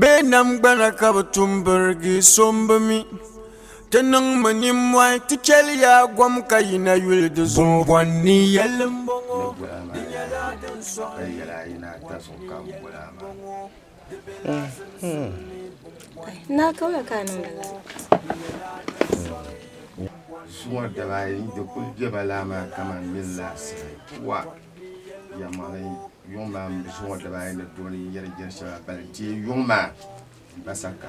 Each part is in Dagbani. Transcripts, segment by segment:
Bɛ namgbana ka bɛ tum birigi so m-bi mi Ti niŋmi nimmɔhi ti chɛli ya gom ka yina yuli di zuɣu Gungɔŋ ni yɛli m-bɔŋɔ di nyɛla din sɔŋ ni yɛlim bɔŋɔ Yuŋ maa mini zuŋɔ dibaa ayi ni dooni yi yɛri jɛri shɛŋa bali deei yuŋ maa gba saka.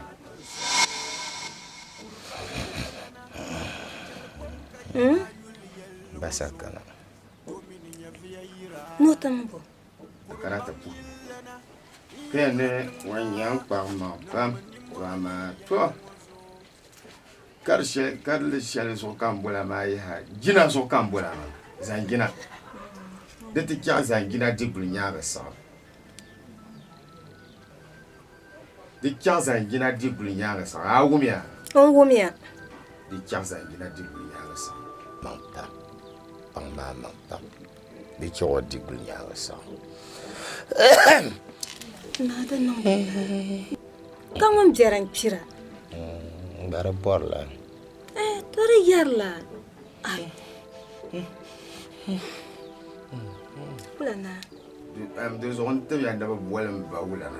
Hmm? Gba saka na. N'o tam bo? Kana ti puhi. Kaya ni wan yan kpam ma pam, wa maa to. karili shɛli zuɣu ka n bola maa yaha jina zuɣu ka n bola maa zanjina di ti chɛɣu zanjina diguli nyaanga saɣam di chɛɣu zanjina diguli nyaanga saɣam a wumiya n wumiya di chɛɣu zanjina diguli nyaanga saɣam kpaŋ tam kpaŋ maa maŋ tam Bɛ chɛ o di guli nyaanga sa. Naa di niŋ ka ŋun biɛri n kpira. Mm, ba di bɔri la. Eh, to di yɛri la. Ai. Wula naa. Di zuɣu n tibya ni bi boli m ba wula na.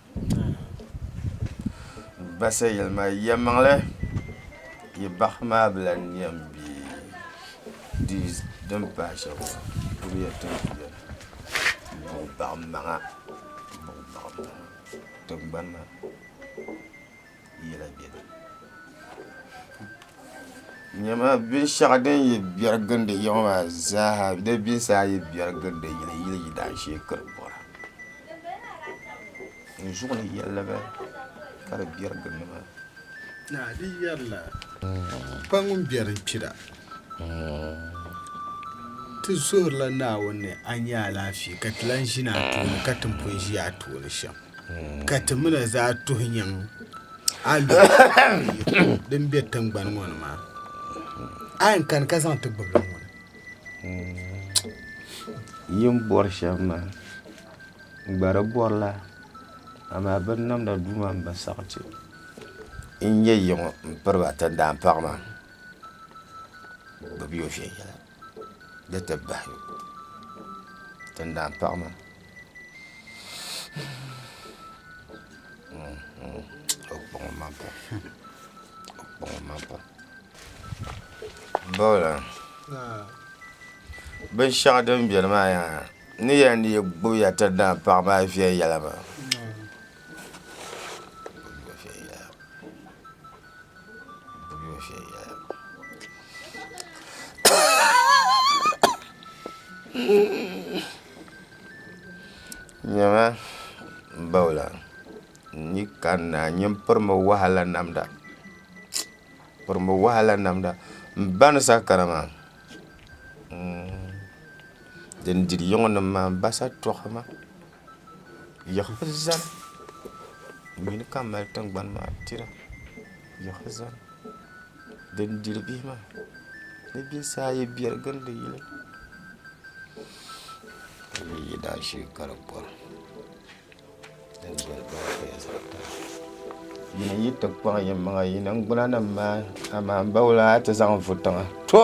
Basa yɛli ma, yɛlimaŋli yi bahi maa bi lan yɛn be di din pahi shɛm maa ka di yɛn tɔri ti beni buɣibaŋmaŋa buɣibaŋmaŋa tiŋgbani maa. yɛla bɛ ni nyɛma binshɛɣu din yi biɛri gindi yiŋ maa zaaha di binsi a yi biɛri gindi yili yili yidaanshee ka di bɔra n zuɣu ni yɛlli ba ka di biɛri gindi maa naa di yɛrila pa ŋun biɛri kpira ti zuhirila Naawuni ni a nya alaafee ka ti lan ʒini a tooni ka ti ni pun ʒi a tooni shɛm. ka ti mi na zaa tuhi nyaŋ a luɣu din be tiŋgbani ŋɔ ni maa. A yɛn kani ka zaŋ ti gbibili ŋɔ ni. Yin bɔri shɛm maa, n gba di bɔrila, amaa bɛ ni namda duu maa m-ba sariti n-nyɛ yiŋɔ m-piri ba tindaa paɣa maa, bɛ bi yo viɛnyɛla, di ti bahi yo tindaa paɣa maa. Binshaɣu din biɛni maa yaha ni yɛli ni yi gbubiya ti daa paɣa maa viɛnyɛla maa Nyɛma n bala la n ni kanna n yɛn pirimi wahala namda n pirimi wahala namda n ba ni saɣakara maa din diri yiŋɔ nim maa n ba satɔɣu ma yiɣibu zani n yuli ka mali tingbani maa tira yiɣibu zani din diri bihi maa ni bihi saa ayi biɛri gindi yili ka di nyɛ zaashee ka di bɔra yili n yi ti kpaŋ yimaŋa yi ningbuna nim maa amaa n bauli a ti zaŋ vu tiŋa to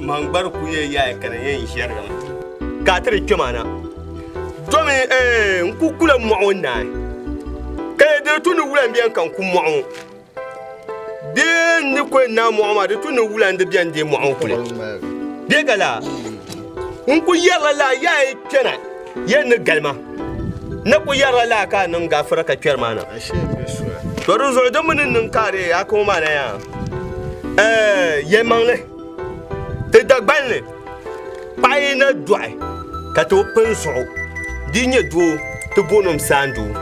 Man gbari ku yɛ yaai ka di yɛn ʒɛrigimi ka a ti di kpɛm a na. Domi eh, n ku kula mɔɣu n naai ka yɛ di tu ni wula n biɛn ka n ku mɔɣu ŋɔ. Bee n ni ku yɛn naai mɔɣu maa di tu ni wula n di biɛn deei mɔɣu n kuli. Bee ka laa n ku yɛrila laa yaai kpɛna. Yen ni gali ma. Na ku yɛrila laa ka a niŋ gafira ka kpɛri maa na. To di zuɣu di mi ni niŋ ka a dee a kɔŋ maa na yaa. Ɛɛ, yɛlimaŋli, ti Dagbani ni, paɣa yi na dɔɣi ka ti o pini zuɣu dii nyɛ doo ti booni o saandoo.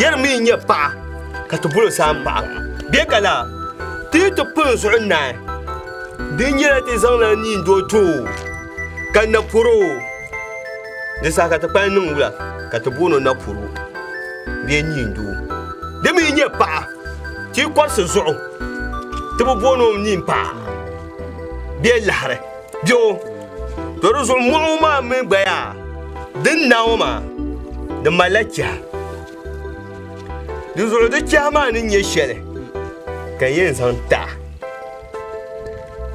Yɛri mi yi nyɛ paɣa ka ti boli o saampaɣa. Bee ka laa, ti yi ti pini zuɣu naai, di nyɛla ti zaŋla niindoo ti o ka na pɔri o. Di saha ka ti kpalim niŋ wula ka ti booni o napuru bee niindoo. Di mi nyɛ paɣa ti yi kɔrisi zuɣu ti bi booni o niin paɣa bee laɣiri biɛo. To di zuɣu mɔɣu maa mi gba yaa din naai o maa di malila chɛha. Di zuɣu di chɛha maa ni nyɛ shɛli ka yɛn zaŋ ti a.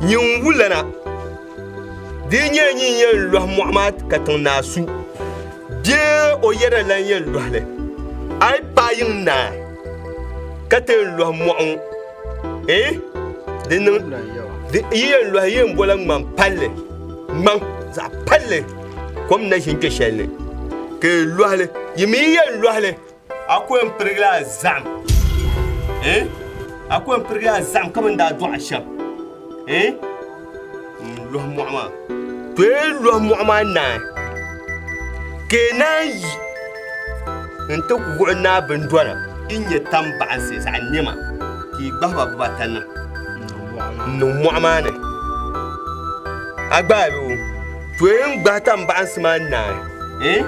Nyin wulana. Di yi nyɛ nyin yɛn lɔhi mɔɣu maa katiŋ naa su, bee o yɛda lan yɛn lɔhi li, a yi paai yiŋ naa ka ti yɛn lɔhi mɔɣu ŋɔ, eh, di niŋ, di yi yɛn lɔhi yi yɛn bola ŋmaŋ palli, ŋmaŋ zaɣ palli kom na ʒin kpe shɛli ni, ka yi lɔhi li, yi mi yi yɛn lɔhi li. A ko yɛn pirigila a zahim eh? A ko yɛn pirigila a zahim ka bɛn daa dɔɣi a shɛm eh? N lɔhi mɔɣu maa. To yi lɔhi mɔɣu maa naai ka yi naan yi n ti wuɣi naa bindɔna din nyɛ tam baɣinsi zaɣ nɛma ka yi gbahi ba bibata niŋ n niŋ mɔɣu maa ni. A gbaai li o. Tɔyin gbahi tambaɣinsi maa naai, eh,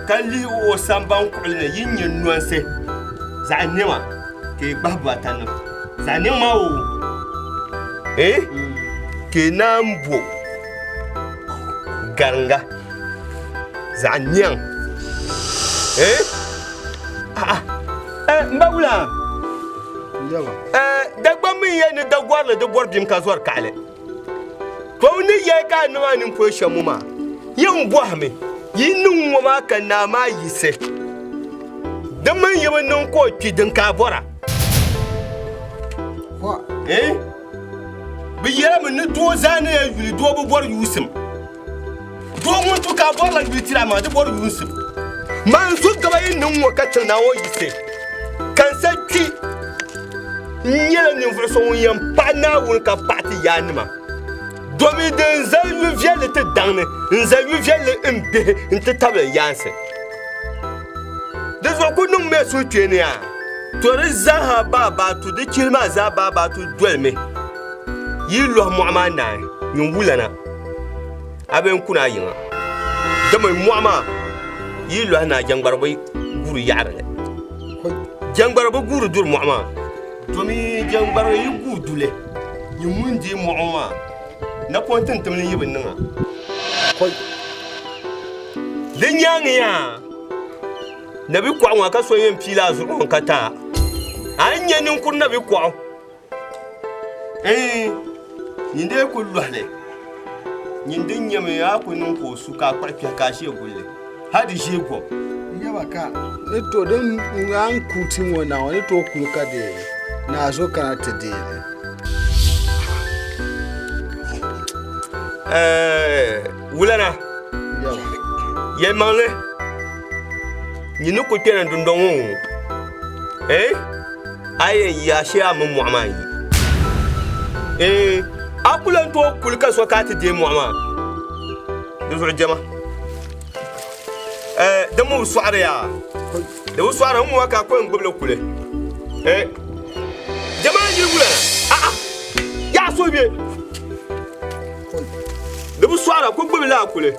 ka lihi o samban kuɣili ni yi nyɛ nɔnsi zaɣ nɛma ka yi gbahi buatani zaɣ nɛŋ maa o, eh, ka yi naan bo garinga zaɣ nɛŋ, eh, a'a, eh, m ba wula, eh, Dagbamb n-yɛn ni Dagɔrili di bɔri bim ka zɔri kaɣili. Kpaw ni yɛ ka a niŋ a ninkuri shɛm ŋɔ maa, yɛn bɔhimi yi niŋ ŋɔ maa ka naa maa yiɣisi. Di mini yi bi niŋ ka o kpi din ka a bɔra. Bɛ yɛlimi ni doo zaa ni yɛn yuli doo bi bɔri yuusim. Doo ŋun tu ka a bɔrila yuui tiri a maa, di bɔri yuunsim. Man zo gaba yi niŋ ŋɔ ka chaŋ Naawuni yisi, ka n sa kpi. N nyɛla ninvuɣ so ŋun yɛn paɣi Naawuni ka paɣi ti yaannima. Domi di n zali yu viɛlli ti daŋ ni n zali yu viɛlli n bihi nti tabili n yaansi. Di zuɣu ku niŋmi a suhukpeeni a. To di zaaha baabaatu, di chihili maa zaa baabaatu dolimi. Yi yi lɔhi mɔɣu maa naai, nyin wulana, a bee n-ku ni a yiŋa. Dama mɔɣu maa, yi yi lɔhi naai jɛŋgbara bi guuri yaɣiri li. Jɛŋgbara bi guuri duri mɔɣu maa. Domi jɛŋgbara yi guuri du li, nyin ŋun deei mɔɣu maa, napɔŋ tintim li yi bi niŋ a. Di nyaaŋiya, nabi'kɔɣu ŋɔ ka so yɛn pii li a zuɣu ŋɔ ka ti a, a ni nya ninkuri nabi'kɔɣu. Eyi, nyin dee ku lɔhi li, nyin din nyɛmi a ku niŋ ka o su ka a kpuɣi kpɛhi ka a ʒiɛ guli li, hal di ʒiɛ gɔbu. Yaba ka ni tooi din ŋan ku ti ŋɔ na ŋɔ ni tooi kuli ka dee ni a zo kana ti deei li. Wulana, yɛlimaŋli nyi ni ku kpɛna dundɔŋ ŋɔ ŋɔ, eh, a yɛn yi a shee a mini mɔɣu maa yi. Eh, a ku lan tooi kuli ka so ka a ti deei mɔɣu maa di zuɣu jɛma. Eh, di mi bi sɔɣiri ya, di bi sɔɣiri n ŋɔ ka a ku yɛn gbubi li kuli. Eh, jɛma n yi Wulana, a'a, yaa so bɛ. Di bi sɔɣira ku gbubi laa kuli.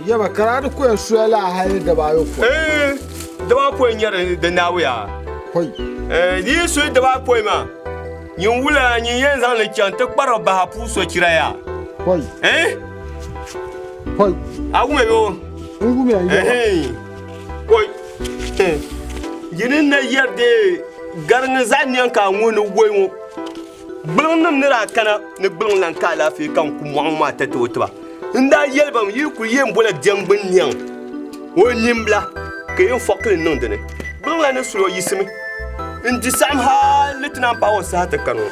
Yaba ka daa di ku ya soya laa hali dabaayopɔin. Dabaayopɔin nyɛri di naawuya. Di yi soyi dabaayopɔin maa, nyin wula nyin yɛn zaŋ li chaŋ ti kpari bahi puu sochira ya. A wumya yo? N wumya yaba. Koi. Yi ni na yɛri dee gari ni zaɣ niɛŋ ka a ŋuni woi ŋɔ. Gbuliŋ nim ni daa kana ni gbuliŋ lan ka alaafee ka n ku mɔɣi ŋɔ maa tatoo tiba. N daa yɛli ba mi yi kuli yɛn bola biɛŋgbi n niɛŋ o nimbila ka yɛn fɔkili n niŋ di ni. Gbuliŋ la ni suli o yiɣisimi n di saɣim hal ni ti naan paai o saha ti kani ŋɔ.